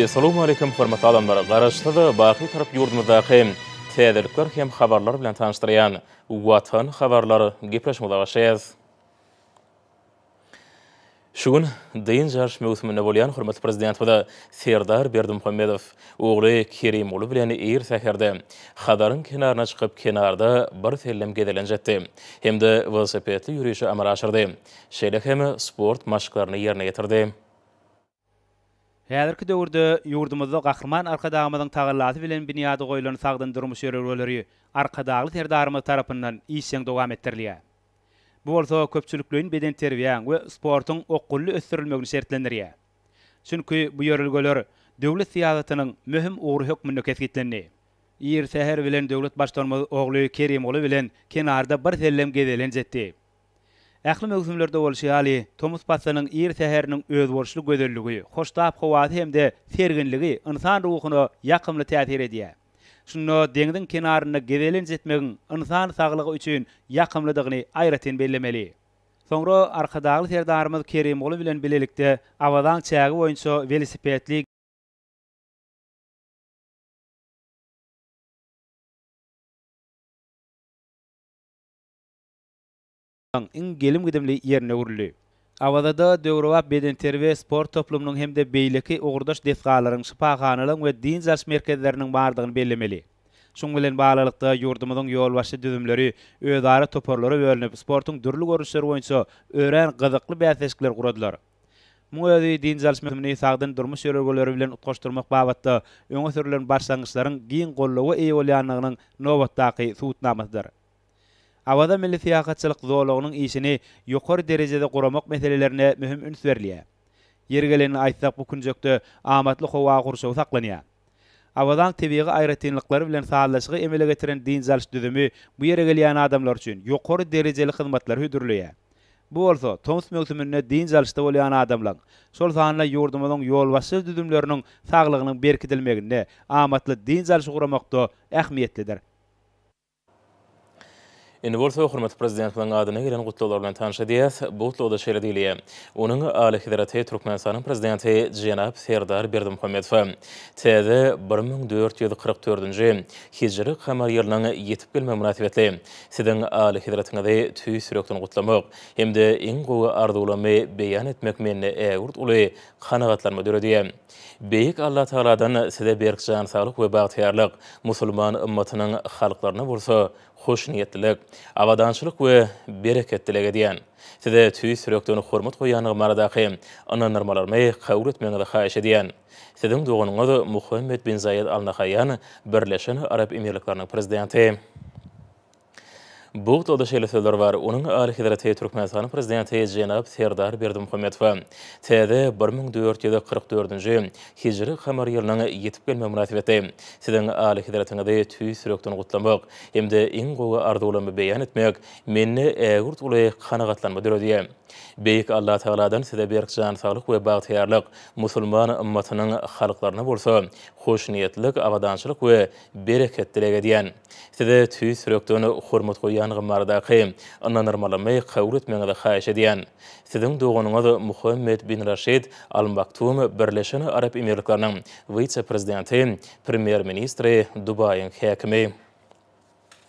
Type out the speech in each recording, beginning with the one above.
Essalamu Aleýkum hormatly adamlar! Garaşsyz, baky Türk ýurdumyzdaky täzelikler hem habarlar bilen tanyşdyrýan Watan habarlar gepleşigimize başlaýarys. Şu gün dynç alyş möwsüminde bolýan hormatly Prezidentimiz Serdar Berdimuhamedow ogly Kerimguly bilen ir säherde Hazaryň kenaryna çykyp kenarda birsellem gezelenç etdi hem-de welosipedli ýörişi amala aşyrdy, şeýle hem sport maşklaryny ýerine ýetirdi. Häzirki döwürde ýurdumyzda Gahryman Arkadagymyzyň tagallasy bilen binýady goýlan sagdyn durmuş ýörelgeleri Arkadagly Serdarymyz tarapyndan işjeň dowam etdirilýär. Bu bolsa köpçülikleýin bedenterbiýäň we sportuň okgunly ösdürilmegini şertlendirýär. Çünki bu ýörelgeler döwlet syýasatynyň möhüm ugry hökmünde kesgitlendi. Ir säher bilen döwlet Baştutanymyz ogly Kerimguly bilen kenarda birsellem gezelenç etdi. Ähli möwsümlerde bolşy ýaly, tomus paslynyň ir säheriniň özboluşly gözelligi, hoştap howasy hem-de serginligi ynsan ruhuna ýakymly täsir edýär. Şunda deňziň kenarynda gezelenç etmegiň ynsan saglygy üçin ýakymlydygyny aýratyn bellemeli. Soňra Arkadagly Serdarymyz Kerimguly bilen bilelikde Awazaň çägi boýunça welosipedli, Ň iň gelim-gidimli ýerine öwrüldi. Awazada döwrebap bedenterbiýe sport toplumynyň hem-de beýleki ugurdaş desgalaryň, şypahanalaryň we dynç alyş merkezleriniň bardygyny bellemeli. Şunuň bilen baglylykda, ýurdumyzyň ýolbaşçy düzümleri özara toparlara bölünip, sportuň dürli görnüşleri boýunça örän gyzykly bäsleşikler guradylar. Muň özi dynç alyş möwsümini sagdyn durmuş ýörelgeleri bilen utgaşdyrmak babatda öňe sürlen başlangyçlaryň giň goldawa eýe bolýandygynyň nobatdaky subutnamasydyr. Awaza milli syýahatçylyk zolagynyň işini ýokary derejede guramak meselelerine möhüm üns berilýär. Ýeri gelenini aýtsak, bu künjekde amatly howa gurşawy saklanýar. Awazaň tebigy aýratynlyklary bilen sazlaşygy emele getiren dynç alyş düzümi bu ýere gelýän adamlar üçin ýokary derejeli hyzmatlary hödürleýär. Bu bolsa tomus möwsüminde dynç alyşda bolýan adamlaň, şol sanda ýurdumyzyň ýolbaşçy düzümleriniň saglygynyň berkidilmeginde, amatly dynç alyş guramakda ähmiýetlidir. Indi bolsa hormatly Prezidentimiziň adyna gelen gutlaglar bilen tanyş edýäs. Bu gutlagda şeýle diýilýär, Onuň Alyhezreti Türkmenistanyň Prezidenti jenap Serdar Berdimuhamedowa täze bir müň dört ýüz kyrk dördünji hijri kamar ýylynyň ýetip gelmegi mynasybetli Siziň Alyhezretiňizi tüýs ýürekden gutlamak hem-de iň gowy arzuwlarymy beýan etmek mende ägirt uly kanagatlanma döredýär. Beýik Allatagaladan size berk jan saglyk we bagtyýarlyk, musulman ymmatynyň halklaryna bolsa hoşniýetlilik, abadançylyk we bereket dileg edýän. Size tüýs ýürekden hormat goýýandygym baradaky ynandyrmalarymy kabul etmegiňizi haýyş edýän. Siziň doganyňyz Muhammed bin Zaýed Al Nahaýýan, Birleşen Arap Emirlikleriniň Prezidenti. Bugtada şeýle sözler bar, Onuň Alyhezreti Türkmenistanyň Prezidenti jenap Serdar Berdimuhamedowa täze bir müň dört ýüz kyrk dördünji hijri kamar ýylynyň ýetip gelmegi mynasybetli Siziň Alyhezretiňizi tüýs ýürekden gutlamak hem-de iň gowy arzuwlarymy beýan etmek mende ägirt uly kanagatlanma döredýär. Beýik Allatagaladan Size berk jan saglyk we bagtyýarlyk, musulman ymmatynyň halklaryna bolsa hoşniýetlilik, abadançylyk we Bereket dileg edýän. Size tüýs ýürekden hormat goýýan gymardaky ynanyrmalymy kabul etmegiňizi haýyş edýän. Siziň doganyňyz Muhammed bin Raşid Al Maktum Birleşen Arap Emirlikleriniň wise-prezidenti, premýer-ministri, Dubaýyň häkimi.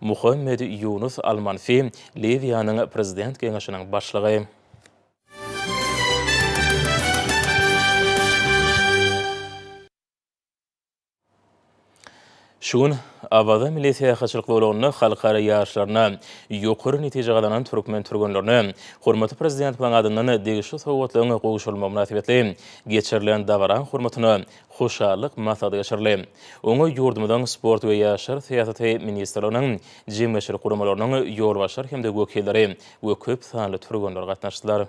Muhammed Ýunus Al-Manfi, Liwiýanyň Prezident Geňeşiniň başlygy. Şu gün Awaza milli syýahatçylyk zolagynda halkara ýaryşlarynda ýokary netije gazanan türkmen türgenlerine hormatly Prezidentimiziň adyndan degişli sowgatlaryň gowşurylmagy mynasybetli geçirilen dabara hormatyna Hoşallyk maslahaty geçirildi. Oňa ýurdumyzyň Sport we ýaşlar syýasaty ministrliginiň, jemgyýetçilik guramalarynyň ýolbaşçylary hem-de wekilleri we köp sanly türgenler gatnaşdylar.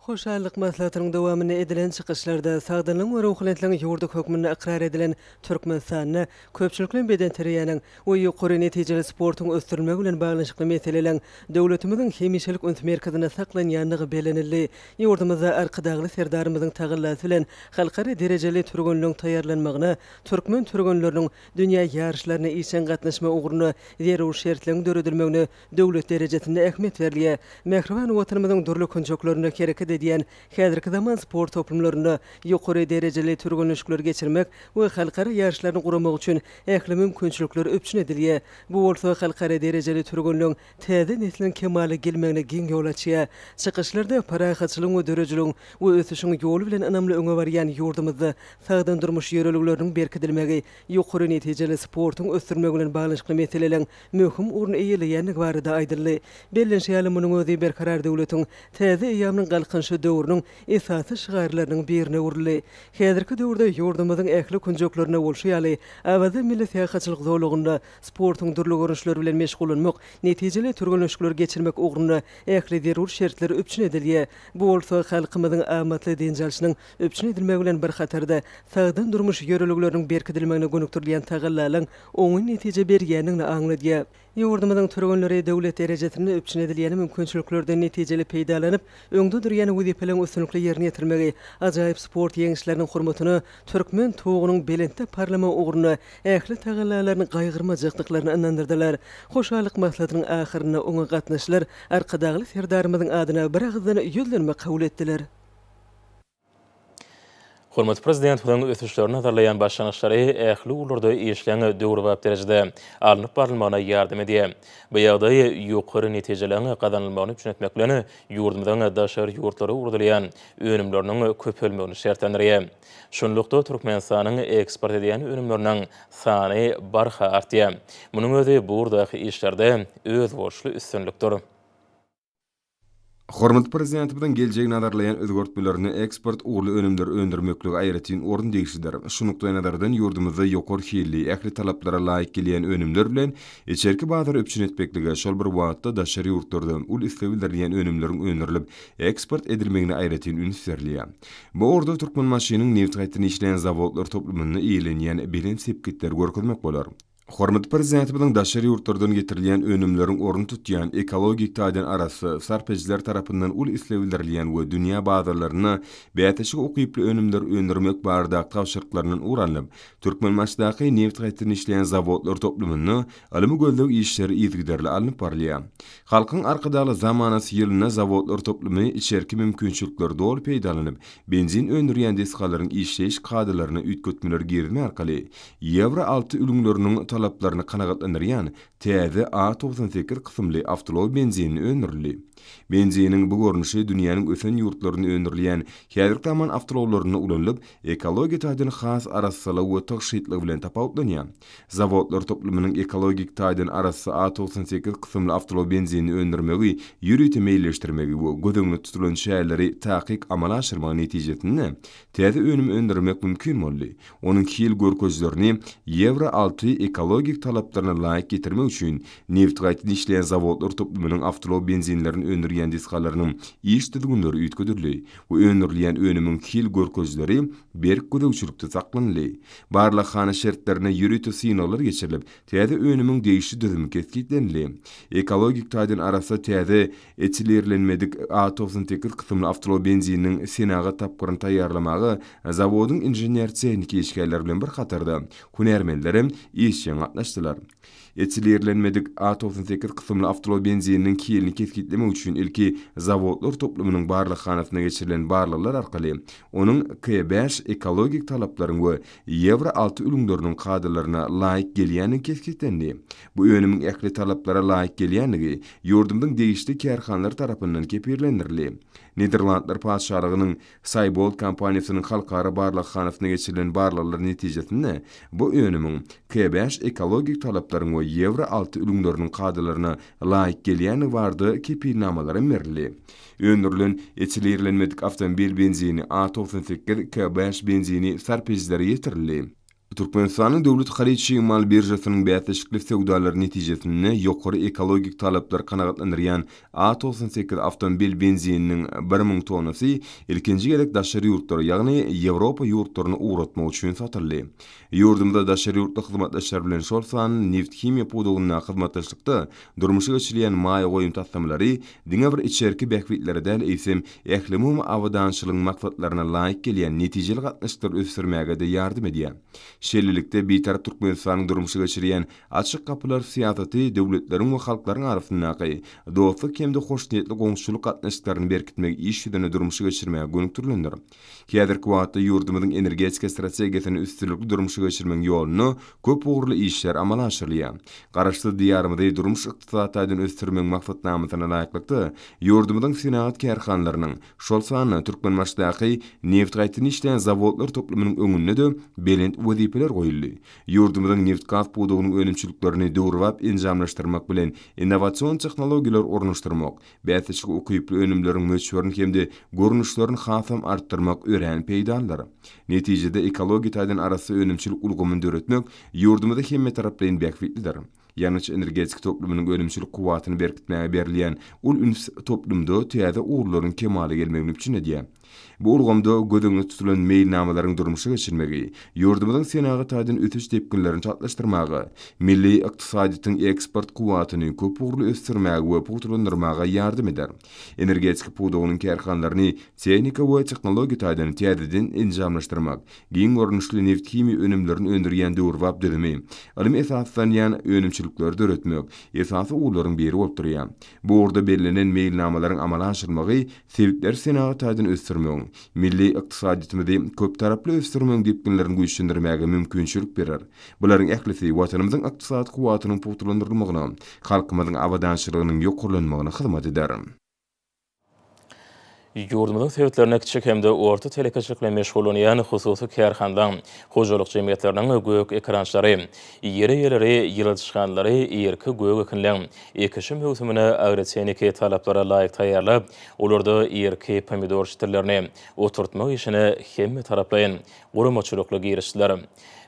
Hoşallyk maslahatynyň dowamynda edilen çykyşlarda sagdynlygyň we ruhubelentligiň ýurdy hökmünde ykrar edilen Türkmenistanda köpçülikleýin bedenterbiýäniň we ýokary netijeli sportuň ösdürilmegi bilen baglanyşykly meseleleň döwletimiziň hemişelik üns merkezinde saklanýandygy bellenildi. Ýurdumyzda Arkadagly Serdarymyzyň tagallasy bilen halkara derejeli türgenleň taýýarlanmagyna, türkmen türgenleriniň dünýä ýaryşlaryna işjeň gatnaşma ugrunda zerur şertleň döredilmegine Döwlet derejesinde ähmiýet berilýär. Mähriban Watanymyzyň dürli künjeklerinde hereket edýän häzirki zaman sport toplumlarynda ýokary derejeli türgenleşikleri geçirmek we halkara ýaryşlaryny guramak üçin ähli mümkinçilikler üpjün edilýär. Bu bolsa halkara derejeli türgenleň täze nesliniň kemala gelmegine giň ýol açýar. Çykyşlarda parahatçylygyň we döredijiligiň we ösüşiň ýoly bilen ynamly öňe barýan ýurdumyzda sagdyn durmuş ýörelgeleriniň berkidilmegi, ýokary netijeli sportuň ösdürilmegi bilen baglanyşykly meseleleň möhüm orun eýeleýändigi barada aýdyldy. Bellenşi ýaly, munuň özi Berkarar döwletiň täze eýýamynyň Galkynyşy döwrüniň esasy şygarlarynyň birine öwrüldi. Häzirki döwürde ýurdumyzyň ähli künjeklerinde bolşy ýaly, Awaza milli syýahatçylyk zolagynda sportuň dürli görnüşleri bilen meşgullanmak, netijeli türgenleşikleri geçirmek ugrunda ähli zerur şertler üpjün edilýär, bu bolsa halkymyzyň amatly dynç alşynyň Üpjün edilmegi bilen bir hatarda, sagdyn durmuş ýörelgeleriniň berkidilmegine gönükdirilýän tagallalaryň oňyn netije berýändigini aňladýar. Ýurdumyzyň türgenleri döwlet derejesinde üpjün edilýän mümkinçiliklerden netijeli peýdalanyp, öňde durýan wezipeleriň üstünlikli ýerine ýetirilmegi, ajaýyp sport ýeňişleriniň hormatyna türkmen Tugunyň belentde parlamagy ugrunda ähli tagallalaryny gaýgyrmajakdyklaryny ynandyrdylar. Hoşallyk maslahatynyň ahyrynda oňa gatnaşyjylar Arkadagly Serdarymyzyň adyna biragyzdan ýüzlenme kabul etdiler. Hormatly Prezidentimiziň ösüşleri nazarlaýan başlangyçlary ähli ugurlarda işleň döwrebap derejede alnyp barylmagyna ýardam edýär. Bu ýagdaý ýokary netijeligiň gazanylmagyny üpjün etmek bilen, ýurdumyzyň daşary ýurtlara ugradylýan önümleriniň köpelmegini şertlendirýär. Şunlukda, Türkmenistanyň eksport edýän önümleriniň sany barha artýar. Munuň özi bu ugurdaky işlerde özboluşly üstünlikdir. Hormatly Prezidentimiziň geljegi nazarlaýan özgertmelerinde eksport ugurly önümleri öndürmeklige aýratyn orun degişlidir. Şu nukdaýnazardan ýurdumyzda ýokary hilli, ähli talaplara laýyk gelýän önümler bilen içerki bazary üpjün etmeklige, şol bir wagtda daşary ýurtlarda uly isleg bildirilýän önümleriň öndürilip, eksport edilmegine aýratyn üns berilýär. Bu ugurda Türkmenbaşynyň nebitgaýtadan işleýän zawodlar toplumynda eýelenýän belent sepgitleri görkezmek bolar. Hormatly Prezidentimiziň daşary ýurtlardan getirilýän önümleriň ornuny tutýan, ekologik taýdan arassa, sarp edijiler tarapyndan uly isleg bildirilýän we dünýä bazarlarynda bäsleşige ukyply önümleri öndürmek baradaky tabşyryklaryndan ugur alnyp, Türkmenbaşydaky nebitgazetirini işleýän zawodlar toplumynda ylmy-gözleg işleri yzygiderli alnyp barylýar. Halkyň Arkadagly zamanasy ýylynda zawodlar toplumy içerki mümkinçilikleri doly peýdalanyp, benzin öndürýän desgalaryň işleýiş kadalaryna üýtgetmeler girizme arkaly, Ýewro alty ülňüleriniň talaplaryny kanagatlandyrýan täze A togsan sekiz kysymly awtoulag benzini öndürildi. Benziniň bu görnüşi dünýäniň ösen ýurtlarynda öndürilýän häzirki zaman awtoulaglarynda ulanylyp, ekologiýa taýdan has arassalygy we tygşytlygy bilen tapawutlanýar. Zawodlar toplumynyň ekologik taýdan arassa A togsan sekiz kysymly awtoulag benzini öndürmegi ýörite meýilleşdirmegi we göz öňünde tutulan çäreleri takyk amala aşyrmagy netijesinde, täze önüm öndürmek mümkin boldy, onuň hil görkezilerini Ýewro alty ekologik talaplaryna laýyk getirmek üçin nebit gaýtadan işleýän zawodlar toplumynyň awtoulag benzinlerini öndürýän desgalarynyň iş düzgünleri üýtgedildi we öndürilýän önümiň hil görkezileri berk gözegçilikde saklanyldy. Barlaghana şertlerinde ýörite synaglar geçirilip, täze önümiň degişli düzümi kesgitlenildi. Ekologik taýdan arassa täze Etilirlenmedik A togsan sekiz kysymly awtology benzininiň senagat tapgyryny taýýarlamaga zawodyň inžener-tehniki işgärleri bilen bir hatarda, hünärmenler hem işjeň gatnaşdylar. Etilirlenmedik A togsan sekiz kysymly awtology benzininiň hilini kesgitlemek üçin ilki zawodlar toplumynyň barlaghanasynda geçirilen barlaglar arkaly onuň K bäş ekologik talaplaryň we Ýewro alty ülňüleriniň kadalaryna laýyk gelýändigi kesgitlendi. Bu önümiň ähli talaplara laýyk gelýändigi ýurdumyzyň degişli kärhanalary tarapyndan kepillendirildi. Niderlandlar Patyşalygynyň Saýbold kompaniýasynyň halkara barlaghanasynda geçirilen barlaglar netijesinde bu önümiň K-bäş ekologik talaplaryň we Ýewro alty ülňüleriniň kadalaryna laýyk gelýändigi barada kepilnamalarym berildi. Öndürilen etilirlenmedik awtomobil benzini A togsan sekiz, K-bäş benzini sarp edijilere ýetirildi. Türkmenistanyň Döwlet haryt-çig mal biržasynyň bäsleşikli söwdalary netijesinde ýokary ekologik talaplary kanagatlandyrýan A togsan sekiz awtomobil benzininiň bir müň tonnasy ilkinji gezek daşary ýurtlara, ýagny Ýewropa ýurtlaryna ugratmak üçin satyldy. Ýurdumyzda daşary ýurtly hyzmatdaşlar bilen şol san nebithimiýa pudagyndaky hyzmatdaşlykda durmuşa geçirilýän maýa goýum taslamalary diňe bir içerki bähbitlere däl, eýsem, ählumumy abadançylygyň maksatlaryna laýyk gelýän netijeli gatnaşyklary ösdürmäge-de ýardam edýär. Şeýlelikde, Bitarap Türkmenistanyň durmuşa geçirýän Açyk gapylar syýasaty döwletleriň we halklaryň arasyndaky dostluk hem-de hoşniýetli goňşuçylyk gatnaşyklaryny berkitmegi iş ýüzünde durmuşa geçirmäge gönükdirilendir. Häzirki wagtda ýurdumyzyň energetika strategiýasyny üstünlikli durmuşa geçirmegiň ýolunda köp ugurly işler amala aşyrylýar. Garaşsyz Diýarymyzy durmuş-ykdysady taýdan ösdürmegiň maksatnamasyna laýyklykda, ýurdumyzyň senagat kärhanalarynyň, şol sanda Türkmenbaşydaky nebtgaýtdan işleýän zawodlar toplumynyň öňünde-de belent wezipeler goýuldy. Ýurdumyzyň nebitgaz pudagynyň önümçiliklerini döwrebap enjamlaşdyrmak bilen innowasion tehnologiýalary ornaşdyrmak, Bäsleşige ukyply önümleriň möçberini hem-de görnüşlerini hasam artdyrmak örän peýdalydyr. Netijede, ekologiýa taýdan arassa önümçilik ulgamyny döretmek ýurdumyzy hemmetaraplaýyn bähbitlidir. Ýangyç-energetika toplumynyň önümçilik kuwwatyny berkitmäge berilýän uly üns toplumda täze ugurlaryň kemala gelmegini üpjün edýär. Bu ulgamda göz öňünde tutulan meýilnamalaryň durmuşa geçirilmegi ýurdumyzyň senagat taýdan ösüş depginlerini çaltlaşdyrmaga, milli ykdysadyýetiň eksport kuwwatyny köp ugurly ösdürmäge we pugtalandyrmaga ýardam eder. Energetika pudagynyň kärhanalaryny tehnika we tehnologiýa taýdan täzeden enjamlaşdyrmak, giň görnüşli nebthimiýa önümlerini öndürýän döwrebap düzümi, ylym esaslanýan önümçilikleri döretmek esasy ugurlaryň biri bolup durýar. Bu ugurda bellenen meýilnamalaryň amala aşyrylmagy Sebitleri senagat taýdan ösdürmegiň, milli ykdysadyýetimizi köptaraply ösdürmegiň depginlerini güýçlendirmäge mümkinçilik berer. Bularyň ählisi Watanymyzyň ykdysady kuwwatynyň pugtalandyrylmagyna, halkymyzyň abadançylygynyň ýokarlanmagyna hyzmat eder. Ýurdumyzyň sebitlerinde kiçi hem-de orta telekeçilik bilen meşgullanýan hususy kärhanalaryň, hojalyk jemgyýetleriniň gök ekrançylary, ýer eýeleri, ýyladyşhanlary, irki gök ekinleň, Ekişi möwsümini agrotehniki talaplara laýyk taýýarlap, olarda irki pomidor ştillerini oturtmak işine hemmetaraplaýyn guramaçylykly girişdiler.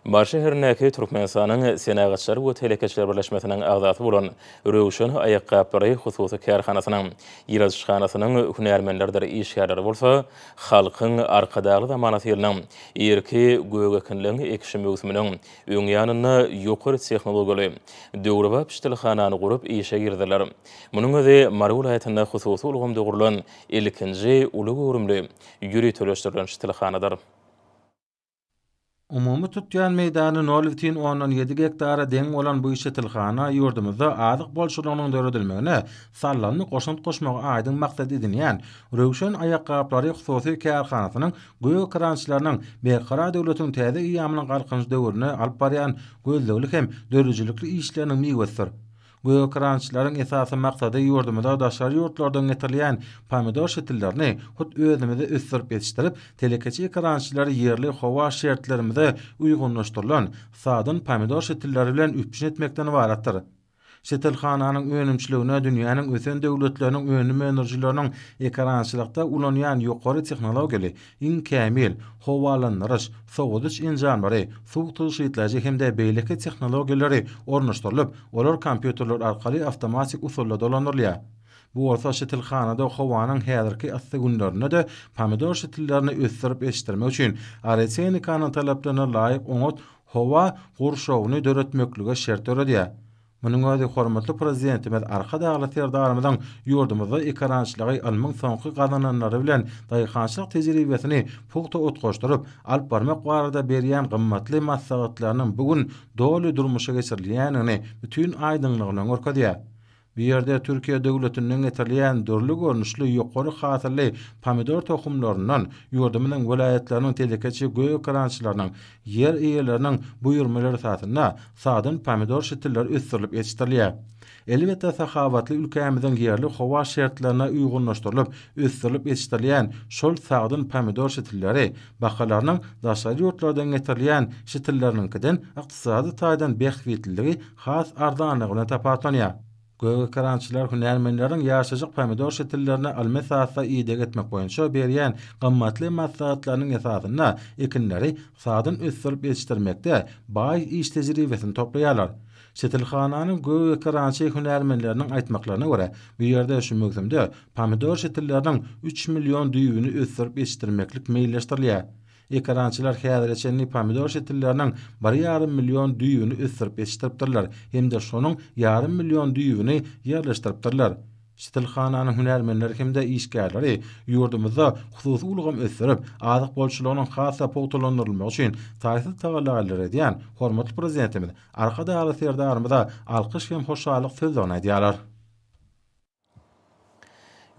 Mary şäherindäki Türkmenistanyň Senagatçylar we telekeçiler birleşmesiniň agzasy bolan Röwşen aýakgaplary hususy kärhanasynyň ýyladyşhanasynyň hünärmenleridir işgärleri bolsa Halkyň Arkadagly zamanasy ýylynyň irki gök ekinleň ekişi möwsüminiň Öň ýanynda ýokary tehnologiýaly, döwrebap ştilhanany gurup işe girdiler. Munuň özi Mary welaýatynda hususy ulgamda gurlan ilkinji uly göwrümli, ýöriteleşdirilen ştilhanadyr. Umumy tutýan meýdany nol bitin ondan ýedi gektara deň bolan bu ştilhana ýurdumyzda azyk bolçulygynyň döredilmegine sallandy goşant goşmagy aýdyň maksat edinýän Röwşen aýakgaplary hususy kärhanasynyň Gök krançlarynyň Berkarar döwletiň täze eýýamynyň Galkynyş döwründe alyp barýan gözlegli hem döredijilikli işleriniň miwesidir. Gök krançlaryň esasy maksady ýurdumyza daşary ýurtlardan getirilýän pomidor şitillerini hut özümizde ösdürip ýetişdirip, telekeçi ekrançylary ýerli howa şertlerimize uýgunlaşdyrylan, sadyn pomidor şitilleri bilen üpjün etmekden ybaratdyr. Şetelhananyň önümçiligine dünýäniň ösen döwletleriniň önüm öndürijileriniň ekerançylykda ulanýan ýokary tehnologiýaly, iň kämil, howalandyryş, sowadyş enjamlary, suw tygşytlaýjy hem-de beýleki tehnologiýalary ornaşdyrylyp, olar kompýuterler arkaly awtomatik usulda dolandyrylýar. Bu bolsa şetilhanada howanyň häzirki yssy günlerinde-de pomidor şetillerini ösdürip ýetişdirmek üçin agrotehnikaň talaplaryna laýyk oňat howa gurşawyny döretmeklige şert döredýär. Munuň özi hormatly Prezidentimiz Arkadagly Serdarymyzyň ýurdumyzda ekerançylygy ylmyň soňky gazananlary bilen daýhançylyk tejribesini pugta utgaşdyryp alyp barmak barada berýän gymmatly maslahatlarynyň bu gün doly durmuşa geçirilýändigini bütin aýdyňlygy bilen görkezýär. Bu ýerde Türkiýe döwletinden getirilýän dürli görnüşli ýokary hasylly pomidor tohumlaryndan ýurdumyzyň welaýatlarynyň telekeçi goekerançylarynyň ýer eýeleriniň buýurmalar esasynda sadyn pomidor şitilleri ösdürilip ýetişdirilýär. Elbetde sahawatly ülkämiziň ýerli howa şertlerine uýgunlaşdyrylyp ösdürilip ýetişdirilýän şol sagdyn pomidor şitilleri bahalarynyň daşary ýurtlardan getirilýän şitilleriniňkiden ykdysady taýdan bähbitliligi has arzanlygy bilen tapawutlanýar. Gögekerançylar hünärmenleriň ýaşajyk pomidor şitillerini almesatda ideg etmek boýunça berýän gymmatly maslahatlarynyň esasynda ekinleri sadan ösdürip ýetişdirmekde baý iş tejribesini toplaýarlar. Şitilhananyň gögekerançy hünärmenleriniň aýtmaklaryna görä, bu ýerde şu möwsümde pomidor şitilleriniň üç million düýbüni ösdürip ýetişdirmeklik meýilleşdirilýär. Ekerançylar häzire çenli pomidor şetilleriniň bir ýarym million düýbüni ösdürip ýetişdiripdirler hem-de şonuň ýarym million düýbüni ýerleşdiripdirler. Şetilhananyň hünärmenleri hem-de işgärleri ýurdumyzda hususy ulgam ösdürip, azyk bolçulygynyň has-da pugtalandyrylmagy üçin taýsyz tagallalar edýän hormatly Prezidentimiz Arkadagly Serdarymyza alkyş hem hoşallyk sözlerini aýdýarlar.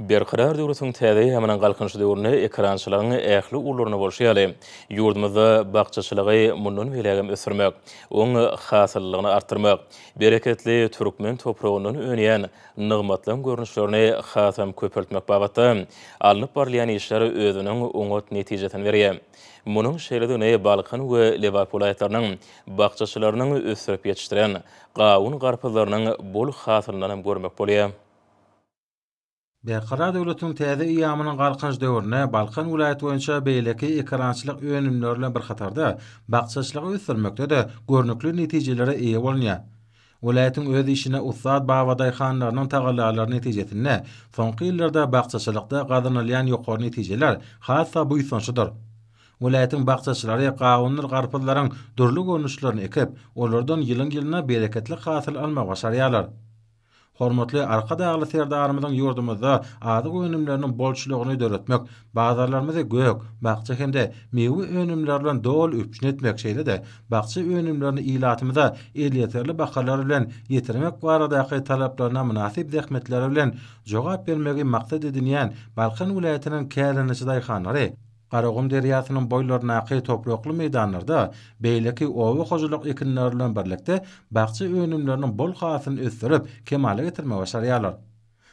Berkarar döwletiň täze ýaňlanan Galkynyş döwründe ekerançylygyň ähli ugurlaryna bolşy ýaly, ýurdumyzda bakjaçylygy mundan beýlägem ösdürmek, oň hasyllylygyny artdyrmak, bereketli türkmen topragyndan önýän nygmatlaň görnüşlerini hasam köpeltmek babatda alnyp barylýan işler özüniň oňat netijesini berýär. Munuň şeýledigini Balkan we Lebap welaýatlarynyň bakjaçylarynyň ösdürip ýetişdiren Gawun garpyzlarynyň bol hasylyndanam görmek bolýar. Berkarar döwletiň täze eýýamynyň Galkynyş döwründe Balkan welaýaty boýunça beýleki ekerançylyk önümleri bilen bir hatarda, bakjaçylygy ösdürmekde-de görnükli netijelere eýe bolunýar. Welaýatyň öz işine ussat babadaýhanlarynyň tagallalary netijesinde, soňky ýyllarda bakjaçylykda gazanylýan ýokary netijeler has-da buýsançlydyr. Welaýatyň bakjaçylary gawundyr garpyzlaryň dürli görnüşlerini ekip, olardan ýylyň-ýylyna bereketli hasyl almagy başarýarlar. Hormatly Arkadagly Serdarymyzyň ýurdumyzda azyk önümleriniň bolçulygyny döretmek, bazarlarymyzy gök, bakja hem-de miwe önümleri bilen doly üpjün etmek, şeýle-de bakja önümlerini ilatymyza elýeterli bahalar bilen ýetirmek baradaky talaplaryna mynasyp zähmetleri bilen jogap bermegi maksat edinýän Balkan welaýatynyň kärendeçi daýhanlary Garagum derýasynyň boýlaryndaky toprakly meýdanlarda beýleki oba hojalyk ekinleri bilen birlikde bakja önümleriniň bol hasylyny ösdürip, kemala getirmegi başarýarlar.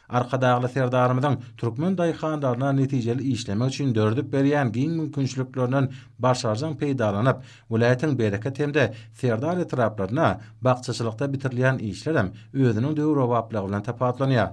Arkadagly Serdarymyzyň türkmen daýhanlaryna netijeli işlemek üçin döredip berýän giň mümkinçiliklerinden başarjaň peýdalanyp, welaýatyň Bereket hem-de Serdar etraplarynda bakjaçylykda bitirilýän işlerem özüniň döwrebaplygy bilen tapawutlanýar.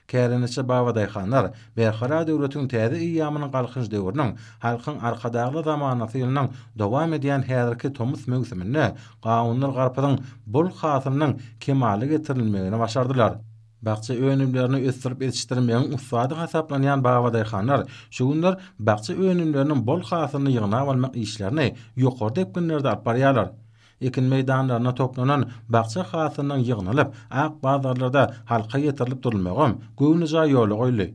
Kärendeçi babadaýhanlar Berkarar döwletiň täze eýýamynyň Galkynyş döwrüniň Halkyň Arkadagly zamanasy ýylynyň dowam edýän häzirki tomus möwsüminde gawundyr garpyzyň bol hasylynyň kemala getirilmegini başardylar. Bakja önümlerini ösdürip ýetişdirmegiň ussady hasaplanýan babadaýhanlar şu günler bakja önümleriniň bol hasylyny ýygnap almak işlerini ýokary depginlerde alyp barýarlar. Ekin meýdanlarynda toplanan bakja hasylynyň ýygnalyp, ak bazarlarda halka ýetirilip durulmagam göwnejaý ýola goýuldy.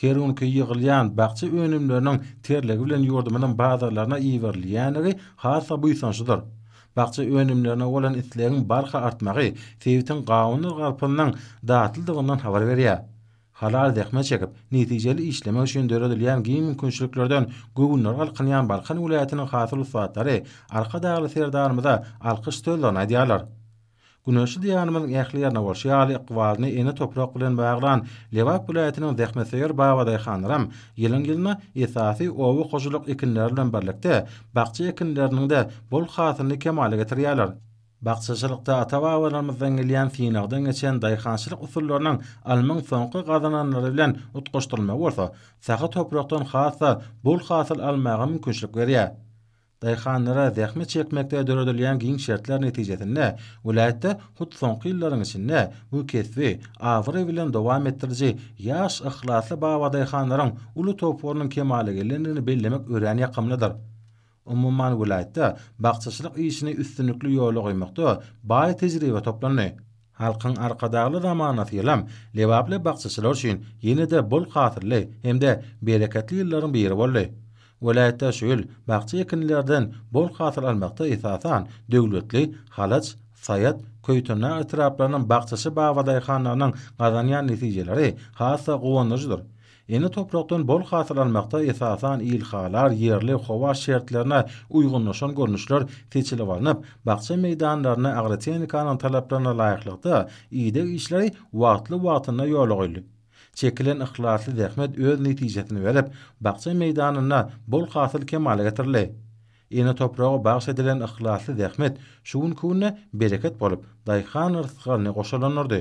Her günki ýygylýan bakja önümleriniň terligi bilen ýurdumyzyň bazarlaryna iberilýändigi has-da buýsançlydyr. Bakja önümlerine bolan islegiň barha artmagy sebitiň gawundyr garpyzynyň datlydygyndan habar berýär. Halal zähmet çekip, netijeli işlemek üçin döredilýän giň mümkinçiliklerden göwünleri galkynýan Balkan welaýatynyň hasyl ussatlary Arkadagly Serdarymyza alkyş sözlerini aýdýarlar. Güneşli Diýarymyzyň ähli ýerine bolşy ýaly, ykbalyny ene toprak bilen baglan Lebap welaýatynyň zähmetsöýer babadaýhanlaram ýylyň-ýylyna esasy oba hojalyk ekinleri bilen birlikde, bakja ekinleriniň-de bol hasylyny kemala getirýärler. Bakjaçylykda ata-babalarymyzdan gelýän synagdan geçen daýhançylyk usullarynyň almyň soňky gazananlary bilen utgaşdyrylmagy bolsa, sahy toprakdan has-da bol hasyl almaga mümkinçilik berýär. Daýhanlara zähmet çekmekde döredilýän giň şertler netijesinde, welaýatda hut soňky ýyllaryň içinde bu kesbi abraý bilen dowam etdiriji ýaş, yhlasly babadaýhanlaryň uly toparynyň kemala gelendigini bellemek örän ýakymlydyr. Umuman welaýatda bakjaçylyk işini üstünlikli ýola goýmakda baý tejribe toplandy. Halkyň Arkadagly zamanasy ýylam lebaply bakjaçylar üçin ýene-de bol hasylly hem-de bereketli ýyllaryň biri boldy. Welaýatda şu ýyl bakja ekinlerden bol hasyl almakda esasan Döwletli, Halaç, Saýat, Köýtendag etraplarynyň bakjaçy babadaýhanlarynyň gazanýan netijeleri has-da guwandyryjydyr. Ene toprakdan bol hasyl almakda esasan ilhalar, ýerli howa şertlerine uýgunlaşan görnüşler seçilip alnyp, bakja meýdanlarynda agrotehnikanyň talaplaryna laýyklykda ideg işleri wagtly-wagtynda ýola goýlup, çekilen yhlasly zähmet öz netijesini berip, bakja meýdanynda bol hasyl kemala getirildi. Ene topraga bagyş edilen yhlasly zähmet şu günki günde bereket bolup, daýhan rysgalyny goşalandyrdy.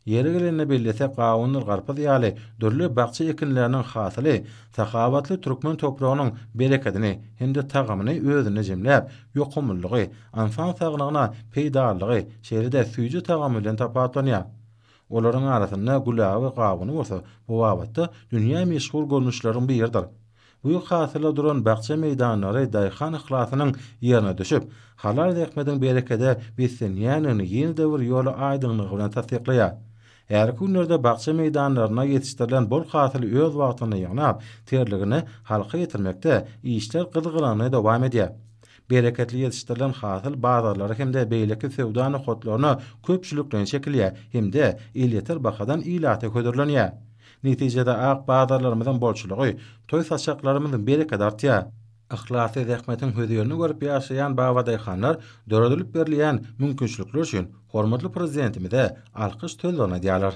Ýeri gelende bellesek gawundyr garpyz ýaly dürli bakja ekinleriniň hasyly sahawatly türkmen topragynyň berekedini hem-de tagamyny özünde jemläp, ýokumlylygy, ynsan saglygyna peýdalylygy, şeýle-de süýji tagamy bilen tapawutlanýar. Olaryň arasynda gülaby gawun bolsa bu babatda dünýä meşhur görnüşleriň biridir. Güýz hasyla duran bakja meýdanlary daýhan yhlasynyň ýerine düşüp, halal zähmediň berekede beslenýändigini ýene-de bir ýola aýdyňlygy bilen tassyklaýar. Häzirki günlerde bakja meýdanlarynda ýetişdirilen bol hasyly öz wagtynda ýygnap, terligini halka ýetirmekde işler gyzgalaňly dowam edýär. Bereketli ýetişdirilen hasyl bazarlara hem-de beýleki söwda nokatlaryna köpçülikleýin çekilýär hem-de elýeter bahadan ilata hödürlenýär. Netijede ak bazarlarymyzyň bolçulygy, toý saçaklarymyz berekedi artýar. Yhlasly zähmetiň hözirini görüp ýaşaýan babadaýhanlar döredilip berilýän mümkinçilikler üçin hormatly Prezidentimize alkyş sözlerini aýdýarlar.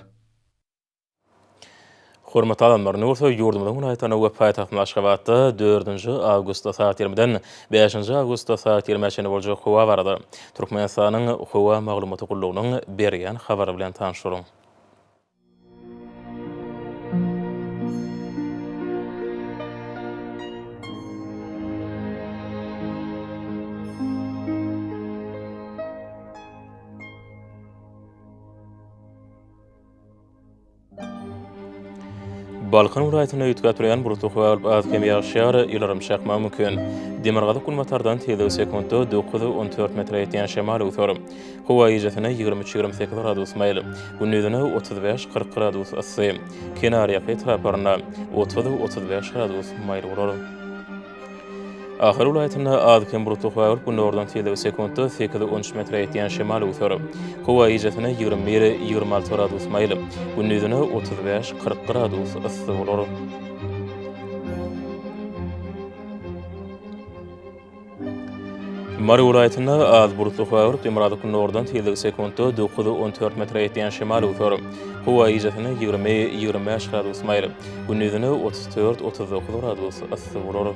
Hormatly adamlar, indi bolsa ýurdumyzyň welaýatlarynda we paýtagtymyz Aşgabatda dördünji awgustda sagat ýirmiden bäşinji awgustda sagat ýirmä çenli boljak howa barada Türkmenistanyň Howa maglumaty gullugynyň berýän habary bilen tanyşyň. Balkan welaýatynda üýtgäp durýan bulutly howa bolup, az-kem ýagyş ýar, ýyldyrym çakmagy mümkin. Demirgazyk-günbatardan tizligi sekuntda dokuz-on dört metre ýetýän şemal öwser. Howa gijesine ýigrimi üç-ýigrimi sekiz gradus maýyl, gündizine otuz bäş-kyrk gradus yssy, kenarýaka etraplarynda otuz-otuz bäş gradus maýyl bolar. Ahal welaýatynda az-kem bulutly howa bolup, gündogardan tizligi sekuntda sekiz-on üç metre ýetýän şemal öwser. Howa gijesine ýigrimi bir-ýigrimi alty gradus maýyl, gündizine otuz bäş-kyrk gradus yssy bolar. Mary welaýatynda az bulutly howa, günordan tizligi sekuntda dokuz-on dört metre ýetýän şemal öwser. Howa gijesine ýigrimi-ýigrimi bäş gradus maýyl, gündizine otuz dört-otuz dokuz gradus yssy bolar.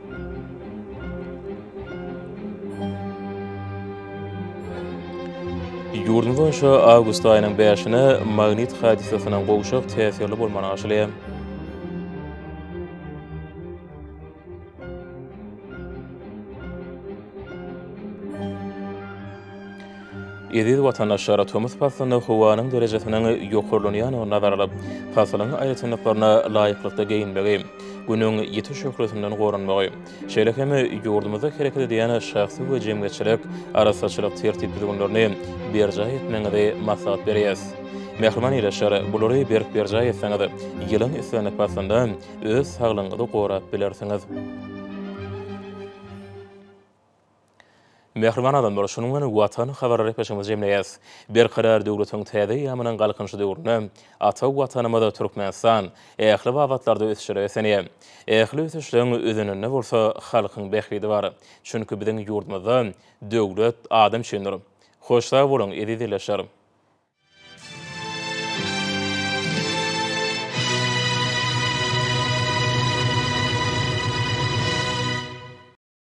Ýurdumyz boýunça awgust aýynyň bäşine magnit hadysasynyň gowşak täsirli bolmany garşylaýar. Eziz watandaşlar, tomus paslynda howanyň derejesiniň ýokarlanýandygyny nazara alyp, pasylyň aýratynlyklaryna laýyklykda geýinmegi, Günüň ýiti şöhlesinden goranmagy, şeýle hem ýurdumyzda hereket edýän şahsy we jemgyýetçilik arassaçylyk tertip-düzgünlerini berjaý etmegiňizi maslahat berýäs. Mähriban ildeşler, bulary berk berjaý etseňiz, ýylyň islendik paslynda öz saglygyňyzy gorap bilersiňiz. Mähriban adamlar, şunuň bilen Watan habarly repesimizi jemleýäs. Berkarar döwletiň täze eýýamynyň Galkynyşy döwründe ata Watanymyz Türkmenistan ähli babatlarda ösüşlere beslenýär. Ähli ösüşleň özeninde bolsa halkyň bähbidi bar. Çünki biziň ýurdumyzda döwlet adam üçindir. Hoş sag boluň, eziz ildeşler!